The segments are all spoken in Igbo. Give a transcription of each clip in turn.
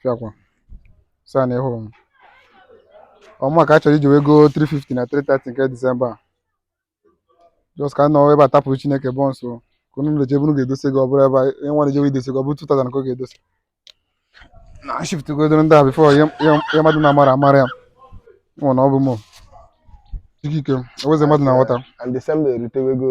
fiakwa saa na ịhụrụ m ọma ka a chọrọ iji wee goo 350 na 330 nke disemba a just ka nọ ebe a tapụrụ chineke bọ nso ka unu na-eje ebe unu ga-edosi ego ọ bụrụ ebe ihe nwa na-ejewe idosi ego ọ bụrụ 2000 ka ọ ga-edosi na shift godoro ndị a before ihe mmadụ na-amara amara ya nwụ na ọ bụ m ikike eweze mmadụ na-aghọta and December erutewego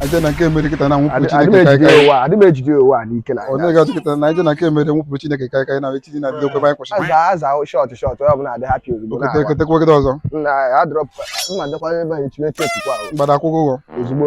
aja na nke emere kịta na nwụpụ Adị- adị m Chineke ejide kaikai ụwa adị m ejide ụwa n'ike na onye ga-ajụ kịta na aja na nke emere wepụ Chineke kaikai na etinye na video kwebe anyị kwụsịrị aza aza shọt shọt onye ọbụla adị happy ozugbo okete na-awa. ekete kwegide ọzọ na adrop mma dịkwa ebe anyị tinye tepu kwa mgbada akwụkwọ ụgwọ ozugbo